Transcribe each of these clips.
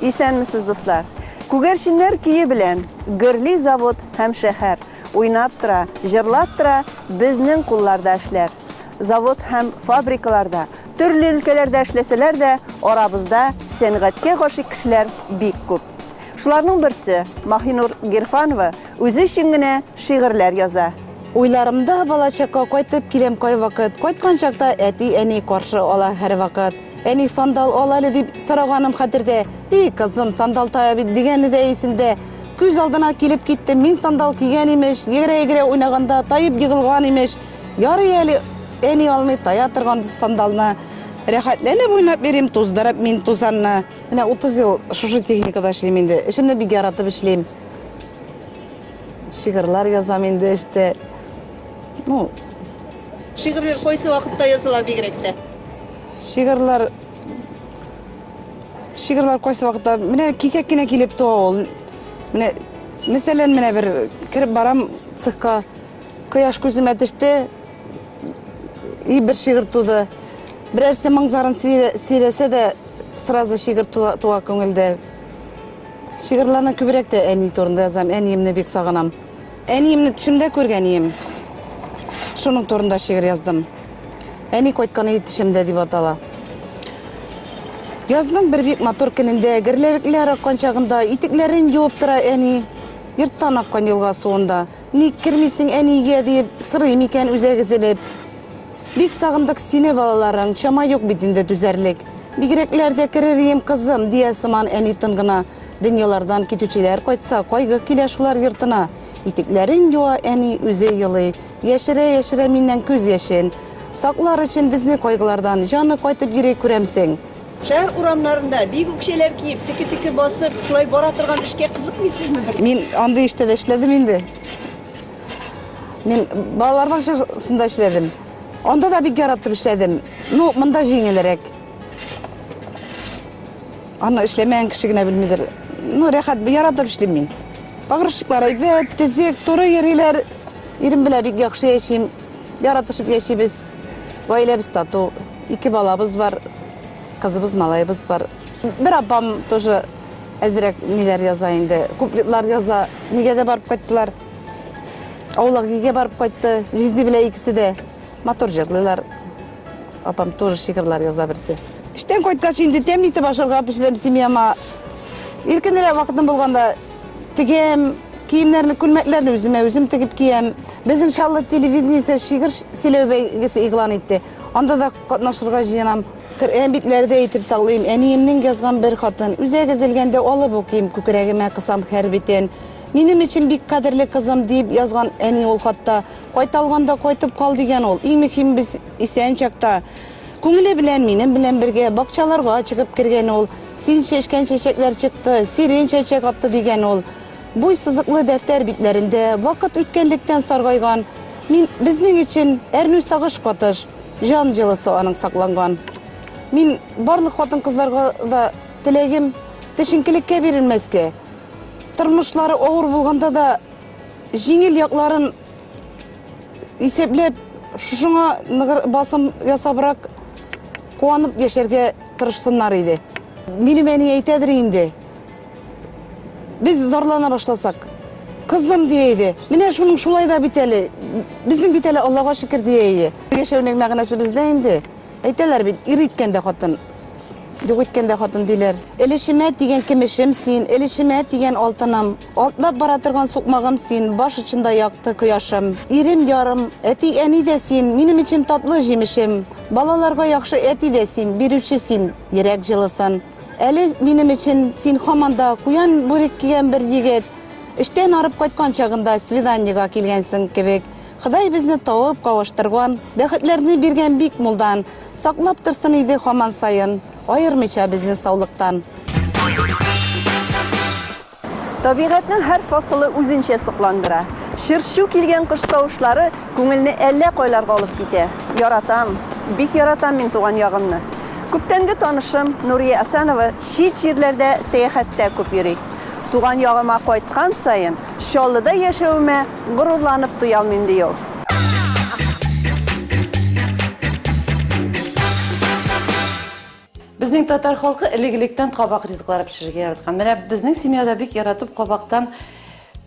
Исәнмесез, дуслар! Күгәрченнәр көе белән Гөрли завод һәм шәһәр, Уйнап тора, җырлап тора Безнең кулларда эшләр. Завод һәм фабрикаларда, Төрле өлкәләрдә эшләсәләр дә, Арабызда сәнгатькә гашыйк кешеләр бик күп. Шуларның берсе, Маһинур Гирфанова үзе өчен генә шигырьләр яза. Уйларымда балачакка кайтып киләм кайвакыт, Кайткан чакта әти-әни каршы ала һәрвакыт. Әни, сандал ал әле, дип сораганым хәтердә. И, кызым, сандал тая бит, дигәне дә исемдә. Күз алдына килеп китте, мин сандал кигән, имеш, егерә-егерә уйнаганда таеп егылган, имеш. Ярый әле әни алмый тая торган сандалны. Рәхәтләнеп уйнап йөрим, туздырып мин тузанны. Менә утыз ел шушы техникада эшлим инде. Эшемне бик яратып эшлим. Шигырьләр язам инде эштә. Ну, Шигырьләр кайсы вакытта языла бигрәк тә? Шигырьләр Шигырьләр кайсы вакытта менә кисәк кенә килеп туа ул. Менә мәсәлән, менә бер кереп барам цехка. Кояш күземә төште. И бер шигырь туды. Берәрсе моңзарын сөйләсә дә, сразу шигырь туа күңелдә. Шигырьләрне күбрәк тә әни турында язам. Әниемне бик сагынам. Әниемне төшемдә күргәнием. Шуның турында шигырь яздым. Әни кайткан өй төшемдә дип атала. Язның бер бик матур көнендә, герләвекләр аккан чагында, итекләрен юып тора әни. Йорттан аккан елга суында. Ник кермисең, әни, өйгә, диеп, сорый микән үзәк өзелеп. Бик сагындык сине, балаларың, чама юк бит инде түзәрлек. Бигрәкләр дә керер ием, кызым, дия сыман әни тын гына. Дөньялардан китүчеләр кайтса, кайгы килә шулар йортына. Итекләрен юа әни, үзе елый. Яшерә-яшерә миннән күз яшен. Саклар өчен безне кайгылардан, җаны кайтып йөри, күрәмсең. Шәһәр урамнарында, бик үк чәйләр киеп, теке-теке басып, шулай бара торган эшкә кызыкмыйсызмы бер дә? Мин андый эштә дә эшләдем инде. Мин балалар бакчасында эшләдем. Анда да бик яратып эшләдем. Ну, монда җиңелрәк. Аны эшләмәгән кеше генә белмидер. Ну, рәхәт, яратып эшлим мин. Погрузчиклар әйбәт, төзек, туры йөриләр. Ирем белән бик яхшы яшим. Яратышып яшибез. Гаиләбез тату. Ике балабыз бар. Кызыбыз, малаебыз бар. Бер апам тоже әзрәк ниләр яза инде. Куплетлар яза. Нигәдә барып кайттылар. Аулагигә барып кайтты. Жизни белән икесе дә матур җырлыйлар. Апам тоже шигырьләр яза берсе. Эштән кайткач инде тәмле итеп ашарга пешерәм семьяма. Иркенрәк вакытым булганда тегәм, киемнәрне, күлмәкләрне үземә үзем тегеп киям. Безнең Чаллы телевидениесе шигырь сөйләү бәйгесе игълан итте. Анда да катнашырга җыенам. Коръән битләрдә итеп саклыйм. Әниемнең язган бер хатын. Үзәк өзелгәндә алып укыйм, күкрәгемә кысам хәр битен. Минем өчен бик кадерле кызым, дип язган әни ул хатта. Кайта алганда кайтып кал, дигән ул. Иң мөһиме, без исән чакта. Күңеле белән минем белән бергә бакчаларга чыгып кергән ул. Син чәчкән чәчәкләр чыкты, сирень чәчәк атты, дигән ул. Буй сызыклы дәфтәр битләрендә вакыт үткәнлектән саргайган, мин, безнең өчен әрнү сагыш катыш, җан җылысы аның сакланган. Мин барлык хатын-кызларга да теләгем, төшенкелеккә бирелмәскә, тормышлары авыр булганда да, Җиңел якларын исәпләп, шушыңа ныгыр басым ясабрак куанып яшәргә тырышсыннар иде. Минем әни әйтәдер инде, без зарлана башласак, кызым дия иде, менә шуның шулай да бит әле, безнең бит әле Аллага шөкер дия иде. Яшәүнең мәгънәсе бездә инде. Әйтәләр бит, ир иткәндә хатын, юк иткәндә хатын диләр. Элешемә тигән кемешем син, элешемә тигән алтыным. Атлап бара торган сукмагым син, Баш очында якты кояшым. Ирем, ярым, әти, әни дә син, Минем өчен татлы җимешем. Балаларга яхшы әти дә син, Бирүче син йөрәк җылысын. Әле минем өчен син һаман да Куян бүрек кигән бер егет. Эштән арып кайткан чагында Свиданиега килгәнсең кебек. Ходай безне тавып кавыштырган, Бәхетләрне биргән бик мулдан. Саклап торсын иде һаман саен, Аермыйча безне саулыктан. Табигатьнең һәр фасылы үзенчә сокландыра. Чыр-чу килгән кош тавышлары күңелне әллә кайларга алып китә. Яратам, бик яратам мин туган ягымны. Күптәнге танышым Нурия Асанова чит җирләрдә сәяхәттә күп йөри. Туган ягыма кайткан саен, Чаллыда яшәвемә горурланып туя алмыйм, ди ул. Безнең татар халкы элек-электән кабак ризыклары пешерергә яраткан. Менә безнең семьяда бик яратып кабактан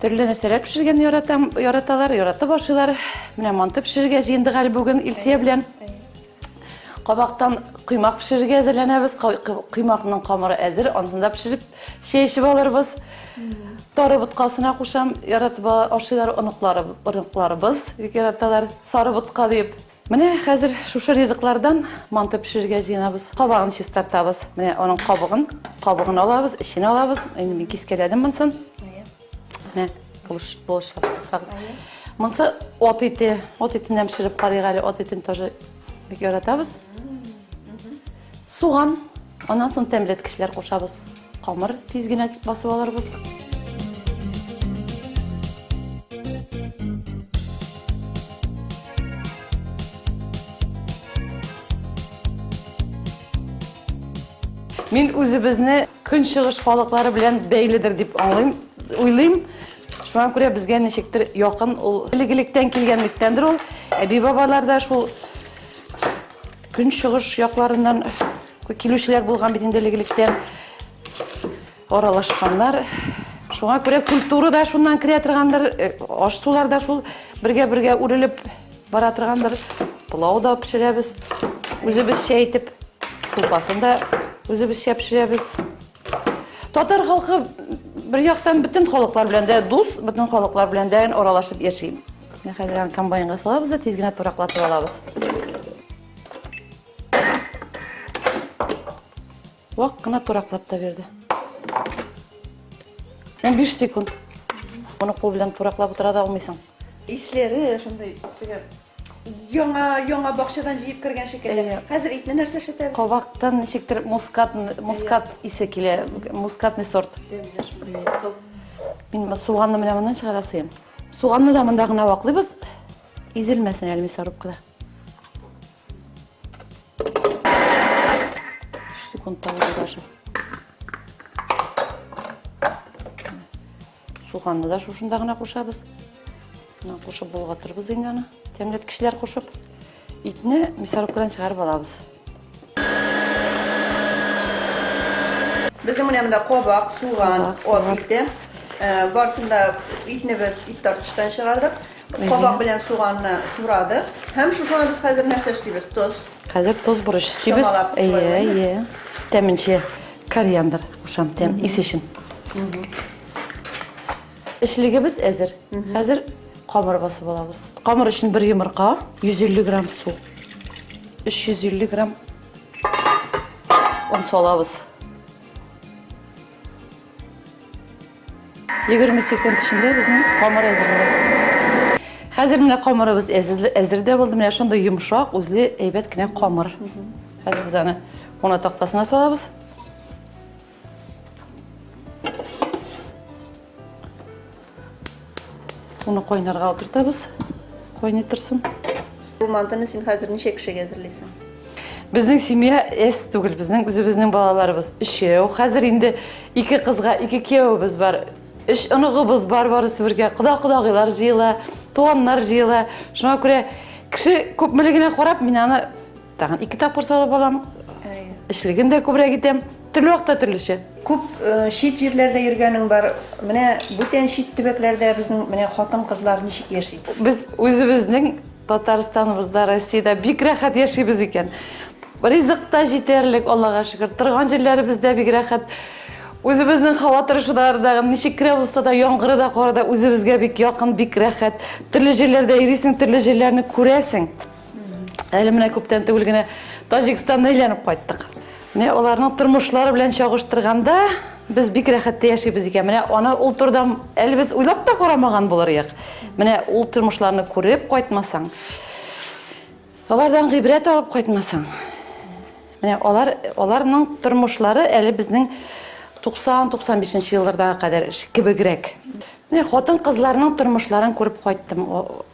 төрле нәрсәләр пешергән яратам, яраталар, яратып ашыйлар. Менә манты пешерергә җыендык әле бүген Илсия белән. Кабактан кыймак пешерергә әзерләнәбез. Кыймакның камыры әзер, ансында пешереп чәй эчеп алырбыз. Тары боткасына кушам, яратып ашыйлар оныклары, оныкларыбыз бик яраталар. Сары ботка дип, Менә хәзер шушы ризыклардан манты пешерергә җыенабыз. Кабагын чистартабыз. Менә аның кабыгын, кабыгын алабыз, эчен алабыз. Инде мин кискәләдем монсын. Менә булыш, булыш сагыз. Монсы от ите, от итеннән пешереп карыйк әле. От итен тоже бик яратабыз. Суган, аннан соң тәмләткечләр кушабыз. Камыр тиз генә басып алырбыз. Мин үзебезне көнчыгыш халыклары белән бәйледер дип аңлыйм, уйлыйм. Шуңа күрә безгә ничектер якын ул элек-электән килгәнлектәндер ул. Әби-бабалар да шул Көнчыгыш якларыннан килүчеләр булган бит инде элек-электән. Аралашканнар. Шуңа күрә культура да шуннан керә торгандыр, э, аш-сулар да шул бергә-бергә үрелеп бара торгандыр. Пылау да пешерәбез үзебезчә итеп. Кулпасын да үзебезчә пешерәбез. Татар халкы бер яктан бөтен халыклар белән дә дус, бөтен халыклар белән дә аралашып яши. Менә хәзер аны комбайнга салабыз да тиз генә тураклатып алабыз. Вак кына тураклап та бирде. 15 секунд. Моны кул белән тураклап утыра да алмыйсың. Исләре шундый яңа яңа бакчадан җыеп кергән шикелле. Хәзер итне нәрсә эшләтәбез? Кабактан ничектер мускат мускат исе килә, мускатный сорт. Мин суганны менә моннан чыгара сыйм. Суганны да монда гына ваклыйбыз. Изелмәсен әле мясорубкада. Секунд тагы даже. Суганны да шушында гына кушабыз. Мына кушып болгатырбыз инде аны. Тәмләткечләр кушып. Итне мясорубкадан чыгарып алабыз. Безнең менә монда кабак, суган, ат ите. Барсында итне без ит тартыштан чыгардык. Кабак белән суганны турадык. Һәм шушыңа без хәзер нәрсә өстибез? Тоз. Хәзер тоз бурыч өстибез. Әйе, әйе. Тәменче кориандр кушам, тәм ис өчен. Эчлегебез әзер. Хәзер камыр басып алабыз. Камыр өчен бер йомырка, 150 грамм су, 350 грамм он салабыз. 20 секунд эчендә безнең камыр әзер була. Хәзер менә камырыбыз әзер дә булды. Менә шундый йомшак, үзле әйбәт кенә камыр. Хәзер без аны куна тактасына салабыз. Суны кайнарга утыртабыз. Кайный торсын. Бу мантыны син хәзер ничә кешегә әзерлисең? Безнең семья эс түгел, безнең үзебезнең балаларыбыз өчәү. Хәзер инде ике кызга ике кияүебез бар. Өч оныгыбыз бар барысы бергә. Кода-кодагыйлар җыела, туганнар җыела. Шуңа күрә кеше күпмелегенә карап мин аны Тагын ике тапкыр салып алам. Эшлеген дә күбрәк итәм. Төрле вакытта төрлечә. Күп э, чит җирләрдә йөргәнең бар. Менә бүтән чит төбәкләрдә безнең менә хатын-кызлар ничек яши? Без үзебезнең Татарстаныбызда, Россиядә бик рәхәт яшибез икән. Ризык та җитәрлек, Аллага шөкер. Торган җирләребездә бик рәхәт. Үзебезнең һава торышы да ардагы, ничек кенә булса да, яңгыры да, кары да үзебезгә бик якын, бик рәхәт. Төрле җирләрдә йөрисең, төрле җирләрне күрәсең. Әле менә күптән түгел генә Таҗикстаннан әйләнеп кайттык. Менә аларның тормышлары белән чагыштырганда, без бик рәхәттә яшибез икән. Менә аны ул турыда әле без уйлап та карамаган булыр идек. Менә ул тормышларны күреп кайтмасаң, алардан гыйбрәт алып кайтмасаң. Менә алар аларның тормышлары әле безнең 90-95 елларга кадәр кебегрәк. Менә хатын-кызларның тормышларын күреп кайттым.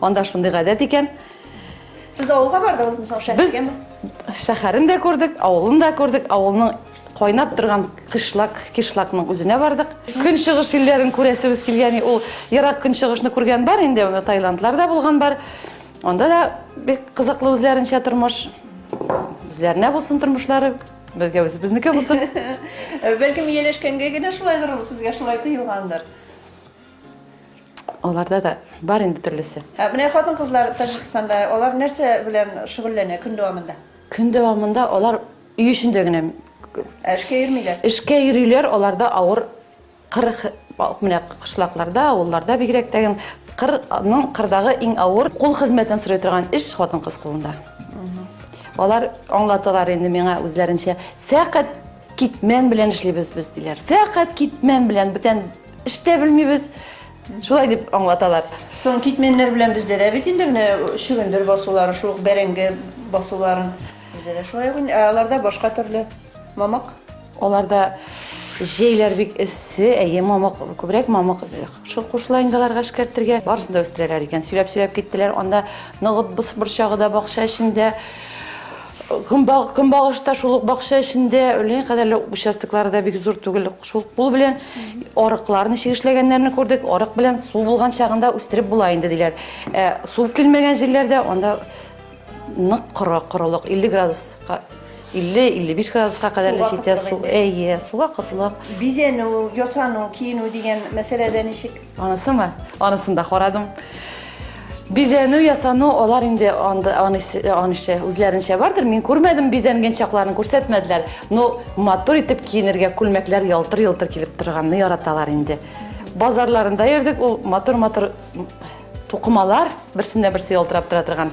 Анда шундый гадәт икән. Сез авылга бардыңызмы соң шәһәргәме? Без шәһәрен дә күрдек, авылын да күрдек, авылның кайнап торган кышлак, кишлакның үзенә бардык. Көнчыгыш илләрен күрәсебез килгән, ул ерак көнчыгышны күргән бар инде, анда Таиландларда булган бар. Анда да бик кызыклы үзләренчә тормыш. Үзләренә булсын тормышлары, безгә үзебезнеке булсын. Бәлкем ияләшкәнгә генә шулайдыр ул, сезгә шулай тоелгандыр. Аларда да бар инде төрлесе. Ә менә хатын-кызлар Таҗикстанда алар нәрсә белән шөгыльләнә көн дәвамында? Көн дәвамында алар өй эчендә генә Ә эшкә йөрмиләр. Эшкә йөриләр, аларда авыр кыр менә кышлакларда, авылларда бигрәк тә кырның кырдагы иң авыр кул хезмәтен сорый торган эш хатын-кыз кулында. Алар аңлаталар инде миңа үзләренчә, фәкать китмән белән эшлибез без диләр. Фәкать китмән белән бүтән Эштә белмибез. Шулай дип аңлаталар. Соң китменнәр белән бездә дә бит инде менә чөгендер басулары, шул ук бәрәңге басуларын. Бездә дә шулай ук инде, ә аларда башка төрле мамык. Аларда җәйләр бик эссе, әйе, мамык, күбрәк мамык шул кушыла инде аларга эшкәртергә. Барысын да үстерәләр икән. Сөйләп-сөйләп киттеләр, анда ныгыт борчагы да бакча эчендә. Көнбаг, көнбагыш та шул ук бакча эчендә, үлгән кадәрле участоклары да бик зур түгел. Шул кул белән арыклар ничек эшләгәннәрне күрдек. Арык белән су булган чагында үстереп була инде диләр. Ә су килмәгән җирләрдә анда нык коры, корылык 50 градуска 50-55 градуска кадәр Суга җитә кытлык су. инде. Әйе, суга кытлык. Бизәнү, ясану, киенү дигән мәсьәләдә ничек? Анысымы? Анысын да карадым. Бизәнү ясану алар инде анда анышы үзләренчә бардыр. Мин күрмәдем бизәнгән чакларын күрсәтмәделәр. Но матур итеп киенергә күлмәкләр ялтыр-ялтыр килеп торганны яраталар инде. Базарларында йөрдек, ул матур-матур тукымалар, берсендә берсе ялтырап тора торган.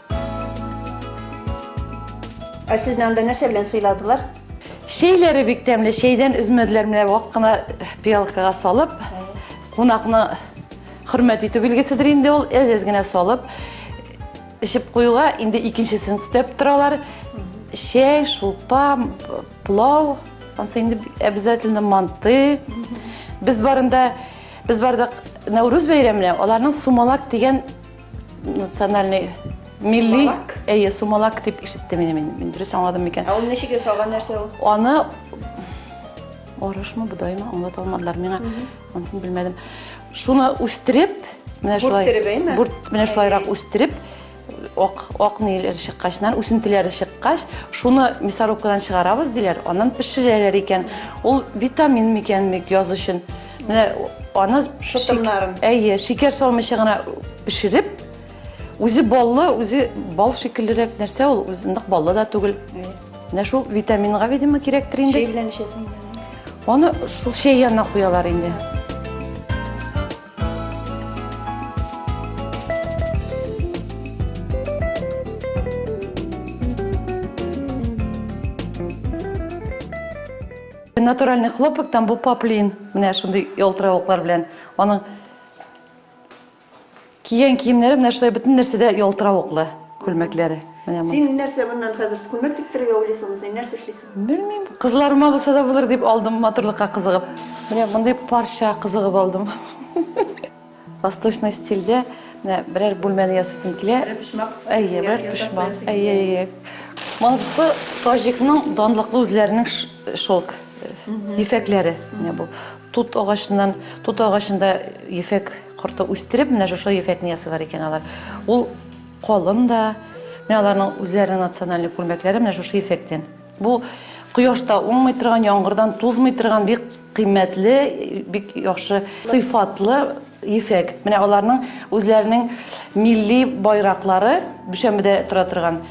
Ә сезне анда нәрсә белән сыйладылар? Чәйләре бик тәмле, чәйдән өзмәделәр, менә вак кына пиалкага салып, кунакны хөрмәт итү билгеседер инде ул, әз-әз генә салып, эчеп куюга инде икенчесен өстәп торалар. Чәй, шулпа, пылау, ансы инде обязательно манты. Без барында, без бардык Нәүрүз бәйрәменә, аларның сумалак дигән национальный милли әйе сумалак дип ишеттем мин мин дөрес аңладым микән ә ул ничек ясалган нәрсә ул аны арышмы бодаймы аңлата алмадылар миңа анысын белмәдем шуны үстереп менә шулай бүрттереп бүрт менә шулайрак үстереп ак ак ниләр чыккачнан үсентеләре чыккач шуны мясорубкадан чыгарабыз диләр аннан пешерәләр икән ул витамин микән бик яз өчен Менә аны шытымнарын. Әйе, шикәр салмыйча гына пешереп, үзе баллы, үзе бал шикеллерәк нәрсә ул, үзе нык баллы да түгел. Менә шул витаминга, видимо, кирәктер инде. Чәй белән эчәсең. Аны шул чәй янына куялар инде. Натуральный хлопок, там бу поплин. Менә шундый ялтыравыклар белән. Аның киен киемнәре менә шулай бөтен нәрсәдә ялтыравыклы күлмәкләре. Син нәрсә моннан хәзер күлмәк тиктерергә уйлыйсыңмы? Син нәрсә эшлисең? Белмим. Кызларыма булса да булыр дип алдым матурлыкка кызыгып. Менә мондый парча кызыгып алдым. Восточный стильдә менә берәр бүлмәне ясыйсым килә. Бер почмак. Әйе, бер почмак. Әйе, әйе. Монысы Таҗикның данлыклы үзләренең шелк ефәкләре. Менә бу тут агачыннан, тут агачында ефәк корты үстереп, менә шушы ефәкне ясыйлар икән алар. Ул калын да, менә аларның үзләренең националь күлмәкләре менә шушы ефәктән. Бу кояшта уңмый торган, яңгырдан тузмый торган бик кыйммәтле, бик яхшы сыйфатлы ефәк. Менә аларның үзләренең милли байраклары Дүшәмбедә тора торган.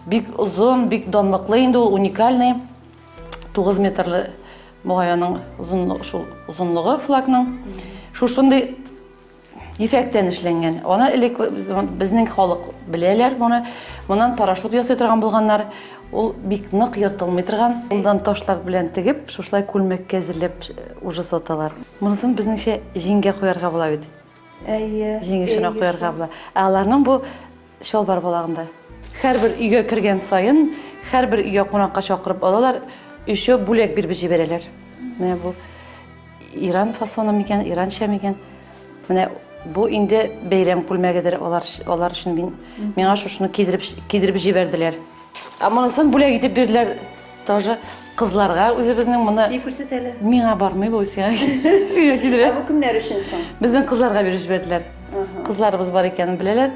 Бик озын, бик данлыклы инде ул уникальный 9 метрлы мугаянның озынлыгы, шул озынлыгы флагның. Шушындый Ефәктән эшләнгән. Аны элек безнең халык беләләр моны. Моннан парашют ясый торган булганнар. Ул бик нык ертылмый торган. Кулдан ташлар белән тегеп, шушлай күлмәккә әзерләп уже саталар. Монысын безнеңчә җиңгә куярга була бит. Әйе. Җиңешенә куярга була. Ә аларның бу Чалбар балагында. Һәрбер өйгә кергән саен, һәрбер өйгә кунакка чакырып алалар, өчәү бүләк биреп җибәрәләр. Менә бу Иран фасоны микән, Иранча микән? Менә бу инде бәйрәм күлмәгедер алар, алар өчен мин, миңа шушыны кидереп, кидереп җибәрделәр. Ә монысын бүләк итеп бирделәр Тоже кызларга үзебезнең моны Ни күрсәт әле? Миңа бармый бу сиңа. Сиңа килер. Ә бу кемнәр өчен соң? Безнең кызларга биреп җибәрделәр. Кызларыбыз бар икәнен беләләр.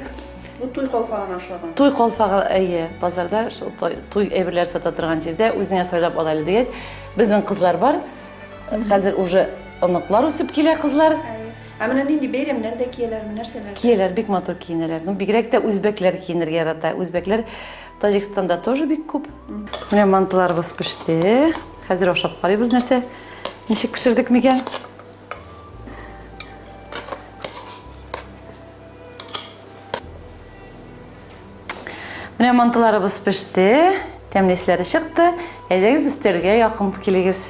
Бу туй калфагына ошаган. Туй калфагы әйе, базарда шул туй әйберләр сата торган җирдә үзеңә сайлап ала әле дигәч, безнең кызлар бар. Хәзер уже оныклар үсеп килә кызлар. Ә менә нинди бәйрәмнәрдә кияләрме, нәрсәләр? Кияләр бик матур киенәләр. Ну, бигрәк тә үзбәкләр киенергә ярата. Үзбәкләр Таҗикстанда тоже бик күп. Менә мантыларыбыз пеште. Хәзер ашап карыйбыз нәрсә, ничек пешердек микән. Менә мантыларыбыз пеште, тәмле исләре чыкты. Әйдәгез өстәлгә якын килегез.